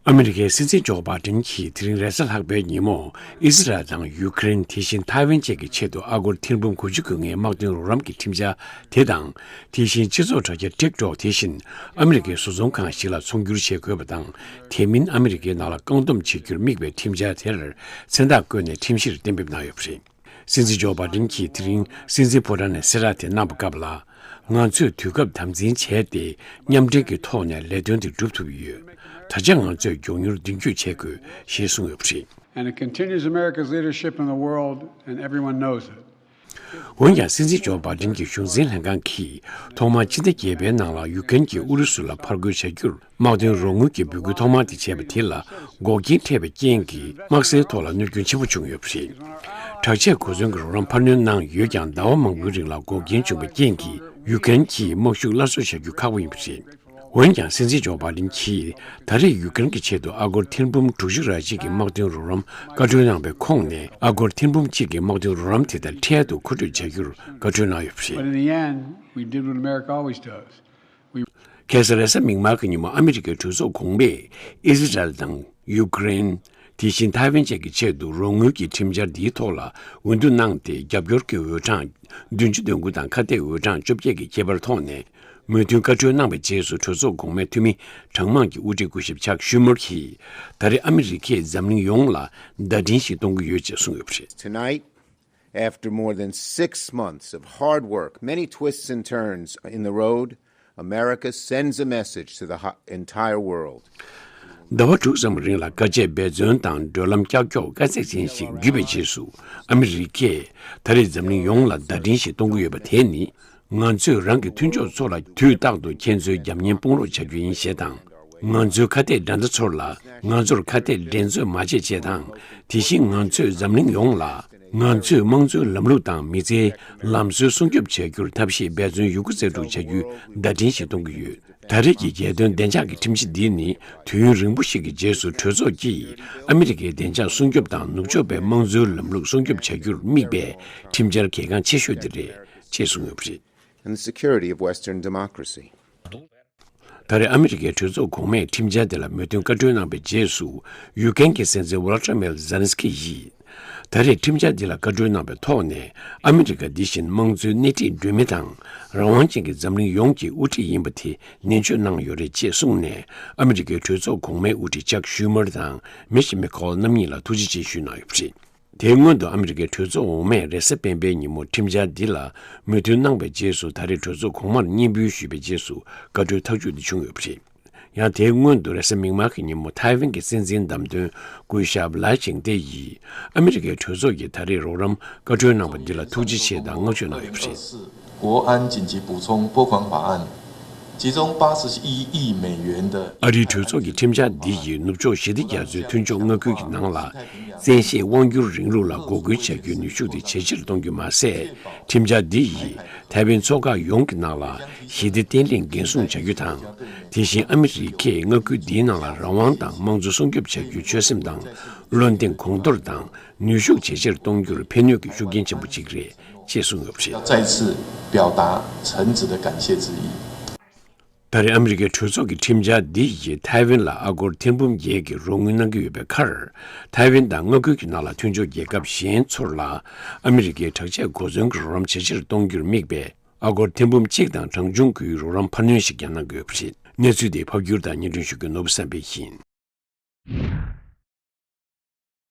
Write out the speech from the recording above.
ཨ་མི་རི་ཀའི་སྲིད་འཛིན་ཇོ་པཱ་ཏིན་གྱིས་དེ་རིང་རེས་གཟའ་ལྷག་པའི་ཉིན་མོར་ཨི་སི་རལ་དང་ཡུ་ཀེ་རེན་དེ་བཞིན་ཐའེ་ཝན་བཅས་ཀྱི་ཆེད་དུ་ཨ་སྒོར་ཐེར་འབུམ་དགུ་བཅུ་དགོས་ངེས་དམག་དོན་རོགས་རམ་གྱི་ཁྲིམས་འཆར་དེ་དང་དེ་བཞིན་སྤྱི་ཚོགས་དྲ་རྒྱ་ཏིག་ཏོག་དེ་བཞིན་ཨ་མི་རི་ཀའི་བཟོ་ཚོང་ཁང་ཞིག་ལ་ཚོང་བསྒྱུར་བྱེད་དགོས་པ་དང་དེ་མིན་ཨ་མི་རི་ཀའི་ནང་ལ་བཀག་སྡོམ་བྱེད་རྒྱུར་དམིགས་པའི་ཁྲིམས་འཆར་དེར་མཚན་རྟགས་བཀོད་ནས་ཁྲིམས་གཞིར་གཏན་འབེབས་གནང་ཡོད་པ་རེད། སྲིད་འཛིན་ཇོ་པཱ་ཏིན་གྱིས་དེ་རིང་སྲིད་འཛིན་ཕོ་བྲང་ནས་སེ་ར་དེ་གནང་བ་སྐབས་ལ། ང་ཚོས་དུས་སྐབས་དམ་འཛིན་བྱས་ཏེ་མཉམ་འབྲེལ་གྱི་ཐོག་ནས་ལས་དོན་དེ་བསྒྲུབ་ཐུབ་ཡོད། ད་ཆ་ང་ཚོས་མགྱོགས་མྱུར་མདུན་སྐྱོད་བྱེད་དགོས་ཞེས་གསུངས་ཡོད་པ་རེད། འོན་ཀྱང་སྲིད་འཛིན་ཇོ་པཱ་ཏིན་གྱི་གཞུང་འཛིན་ལྷན་ཁང་གིས་ཐོག་མར་ཕྱི་ཟླ་བརྒྱད་པའི་ནང་ལ་ཡུག་ཀེན་གྱིས་ཨུ་རུ་སུ་ལ་ཕར་རྒོལ་བྱ་རྒྱུར་དམག་དོན་རོགས་དངུལ་གྱི་འབོད་སྐུལ་ཐོག་མར་དེ་བྱས་པ་དེ་ལ་འགོག་རྐྱེན་འཕྲད་པའི་རྐྱེན་གྱིས་དམག་སའི་ཐོག་ལ་གནོད་སྐྱོན་ཆེན་པོ་བྱུང་ཡོད་པ་རེད། དྲག་ཆས་གོ་མཚོན་གྱི་རོགས་རམ་འཕར་སྣོན་གནང་ཡོད་ཀྱང་ཟླ་བ་མང་པོའི་རིང་ལ་འགོག་རྐྱེན་བྱུང་བའི་རྐྱེན་གྱིས་ཡུག་ཀེན་གྱིས་དམག་ཤུགས་སླར་གསོ་བྱ་རྒྱུ་ཁག་པོ་ཡིན་པ་རེད། འོན་ཀྱང་སྲིད་འཛིན་ཇོ་པཱ་ལིན་གྱིས་ད་རེས་ཡུག་ཀེན་གྱི་ཆེད་དུ་ཨ་སྒོར་ཐེར་འབུམ་དྲུག་ཅུ་ར་གཅིག་གི་དམག་དོན་རོགས་རམ་བཀའ་འཁྲོལ་གནང་བའི་ཁོངས་ནས་ཨ་སྒོར་ཐེར་འབུམ་གཅིག་གི་དམག་དོན་རོགས་རམ་དེ་དང་འཕྲལ་དུ་མཁོ་སྤྲོད་བྱ་རྒྱུར་བཀའ་འཁྲོལ་གནང་ཡོད་པ་རེད། གྷེ་ཟ་རེ་ས་མིག་དམར་གྱི་ཉིན་མོ་ཨ་མི་རི་ཀའི་གྲོས་ཚོགས་གོང་མས་ཨི་ཟི་རལ་དང་ཡུ་ཀེ་རེན། དེ་བཞིན་ཐའེ་ཝན་བཅས་ཀྱི་ཆེད་དུ་རོགས་དངུལ་གྱི་ཁྲིམས་འཆར་འདིའི་ཐོག་ལ་འོས་བསྡུ་གནང་སྟེ་རྒྱབ་སྐྱོར་གྱི་འོས་གྲངས་བདུན་ཅུ་དོན་དགུ་དང་ཁ་གཏད་འོས་གྲངས་བཅོ་བརྒྱད་ཀྱི་ཁྱད་པར་ཐོག་ནས་མོས་མཐུན་བཀའ་འཁྲོལ་གནང་བའི་རྗེས་སུ་གྲོས་ཚོགས་གོང་མའི་འཐུས་མི་གྲངས་མང་གི་དབུ་ཁྲིད་སྐུ་ཞབས་ཆག་ཤུས་མུར་གྱིས་ད་རེས་ཨ་མི་རི་ཀས་འཛམ་གླིང་ཡོངས་ལ་བརྡ་འཕྲིན་ཞིག་གཏོང་གི་ཡོད་ཅེས་གསུངས་ཡོད་པ་རེད། Tonight། ཟླ་བ་དྲུག་ཙམ་རིང་ལ་དཀའ་སྤྱད་འབད་བརྩོན་དང་བགྲོད་ལམ་ཀྱག་ཀྱོག་དཀའ་ཚེགས་ཅན་ཞིག་བརྒྱུད་པའི་རྗེས་སུ་ཨ་མི་རི་ཀས་ད་རེས་འཛམ་གླིང་ཡོངས་ལ་བརྡ་འཕྲིན་ཞིག་གཏོང་གི་ཡོད་པ་དེ་ནི་ང་ཚོས་རང་གི་མཐུན་ཕྱོགས་ཚོ་ལ་དུས་རྟག་ཏུ་ཁྱེད་ཚོའི་རྒྱབ་གཉེར་སྤོང་རོགས་བྱ་རྒྱུ་ཡིན་ཞེས་དང། ང་ཚོའི་ཁ་གཏད་དགྲ་ཟླ་ཚོར་ལ་ང་ཚོར་ཁ་གཏད་འགྲན་རྩོད་མ་བྱེད་ཅེས་དང། དེ་བཞིན་ང་ཚོས་འཛམ་གླིང་ཡོངས་ལ་ང་ཚོས་དམངས་གཙོའི་ལམ་ལུགས་དང་མི་ཚེའི་ལམ་སྲོལ་སྲུང་སྐྱོབ་བྱ་རྒྱུར་ཐབས་ཤེས་འབད་བརྩོན་ཡོད་རྒུ་རྩལ་སྤྲུགས་བྱ་རྒྱུའི་བརྡ་འཕྲིན་ཞིག་གཏོང་གི་ཡོད། ད་རེས་ཀྱི་རྒྱལ་དོན་བདེ་འཇགས་ཀྱི་ཁྲིམས་གཞི་འདི་ནི་དུས་ཡུན་རིང་པོ་ཞིག་གི་རྗེས་སུ་གྲོས་ཚོགས་ཀྱིས་ཨ་མི་རི་ཀའི་བདེ་འཇགས་སྲུང་སྐྱོབ་དང་ནུབ་ཕྱོགས་པའི་དམངས་གཙོའི་ལམ་ལུགས་སྲུང་སྐྱོབ་བྱ་རྒྱུར་དམིགས་པའི་ཁྲིམས་འཆར་གལ་འགངས་ཆེ་ཤོས་དེ་རེད། ཅེས་གསུངས་ཡོད་པ་རེད། and the security of Western democracy། ད་རེས་ཨ་མི་རི་ཀའི་གྲོས་ཚོགས་གོང་མས་ཁྲིམས་འཆར་དེ་ལ་མོས་མཐུན་བཀའ་འཁྲོལ་གནང་པའི་རྗེས་སུ་ཡུག་ཀེན་གྱི་སྲིད་འཛིན Volodymyr Zelenskyy ཡིས། ད་རེས་ཁྲིམས་འཆར་འདི་ལ་བཀའ་འཁྲོལ་གནང་པའི་ཐོག་ནས་ཨ་མི་རི་ཀ་འདི་བཞིན་དམངས་གཙོའི་སྣེ་ཁྲིད་འགྲོས་མི་དང་རང་དབང་ཅན་གྱི་འཛམ་གླིང་ཡོངས་ཀྱི་དབུ་ཁྲིད་ཡིན་པ་དེ་ནན་བརྗོད་གནང་ཡོད་རེད་ཅེས་གསུངས་ནས་ཨ་མི་རི་ཀའི་གྲོས་ཚོགས་གོང་མའི་དབུ་ཁྲིད Chuck Schumer དང Mitch McConnell རྣམ་གཉིས་ལ་ཐུགས་རྗེ་ཆེ་ཞུས་གནང་ཡོད་པ་རེད། དེའི་སྔོན་དུ་ཨ་མི་རི་ཀའི་གྲོས་ཚོགས་འོག་མས་རེས་གཟའ་སྤེན་པའི་ཉིན་མོར་ཁྲིམས་འཆར་འདི་ལ་མོས་མཐུན་གནང་པའི་རྗེས་སུ་ད་རེས་གྲོས་ཚོགས་གོང་མར་སྙན་འབུལ་ཞུས་པའི་རྗེས་སུ་བཀའ་འཁྲོལ་ཐག་གཅོད་འདི་བྱུང་ཡོད་པ་རེད། ཡང་དེའི་སྔོན་དུ་རེས་གཟའ་མིག་དམར་གྱི་ཉིན་མོ་ཐའེ་ཝན་གྱི་སྲིད་འཛིན་བདམས་ཐོན་སྐུ་ཞབས་ལཱི་ཅིང་ཏེ་ཡིས་ཨ་མི་རི་ཀའི་གྲོས་ཚོགས་ཀྱིས་ད་རེས་རོགས་རམ་བཀའ་འཁྲོལ་གནང་པ་འདི་ལ་ཐུགས་རྗེ་ཆེ་དང་བསྔགས་བརྗོད་གནང་ཡོད་པ་རེད། ཝུའུ་ཨན་ཅིན་ཅི་པུའུ་ཚོང་པུའུ་ཁང་པ་ཨན་ཅི་རྫོང་པ་སི་ཤི་དབྱི་དབྱི་མེན་ཡོན་ཏི། ཨ་རིའི་གྲོས་ཚོགས་ཀྱི་ཁྲིམས་འཆར་འདི་ཡིས་ནུབ་ཕྱོགས་ཞི་བདེ་རྒྱ་མཚོའི་མཐུན་ཕྱོགས་མངའ་ཁུལ་གྱི་ནང་ལ་བཙན་ཤེད་དབང་སྒྱུར་རིང་ལུགས་ལ་འགོག་རྒོལ་བྱ་རྒྱུའི་ནུས་ཤུགས་དེ་ཇེ་ཆེར་གཏོང་རྒྱུ་མ་ཟད། ཁྲིམས་འཆར་འདི་ཡིས་ཐའེ་ཝན་མཚོ་འགག་ཡོངས་ཀྱི་ནང་ལ་ཞི་བདེ་བརྟན་ལྷིང་འགན་སྲུང་བྱ་རྒྱུ་དང། དེ་བཞིན་ཨ་མི་རི་ཀས་མངའ་ཁུལ་འདིའི་ནང་ལ་རང་དབང་དང་དམངས་གཙོ་སྲུང་སྐྱོབ་བྱ་རྒྱུའི་ཆོད་སེམས་དང་བློ་འདེང་གོང་མཐོར་དང་ནུས་ཤུགས་ཇེ་ཆེར་གཏོང་རྒྱུར་ཕན་ནུས་ཀྱི་ཤུགས་རྐྱེན་ཆེན་པོ་གཅིག་རེད། ཅེས་གསུངས་ཡོད་པ་རེད། ད་རེས་ཨ་མི་རི་ཀའི་གྲོས་ཚོགས་ཀྱི་ཁྲིམས་འཆར་འདི་ཡིས་ཐའེ་ཝན་ལ་ཨ་སྒོར་ཐེར་འབུམ་བརྒྱད་ཀྱི་རོགས་དངུལ་གནང་གི་ཡོད་པའི་ཁར། ཐའེ་ཝན་དང་མངའ་ཁུལ་གྱི་ནང་ལ་མཐུན་སྦྱོར་རྒྱལ་ཁབ་གཞན་ཚོར་ལ་ཨ་མི་རི་ཀའི་དྲག་ཆས་འགོ་འཛོན་གྱི་རོགས་རམ་ཇེ་ཆེར་གཏོང་རྒྱུར་དམིགས་པའི་ཨ་སྒོར་ཐེར་འབུམ་གཅིག་དང་གྲངས་ཆུང་གི་རོགས་རམ་འཕར་སྣོན་ཞིག་ཀྱང་གནང་གི་ཡོད་པ་རེད། གནས་ཚུལ་དེ་ཕབ་སྒྱུར་དང་སྙན་སྒྲོན་ཞུ་རྒྱུ་ནོར་བུ་བསམ་འཕེལ་ཡིན།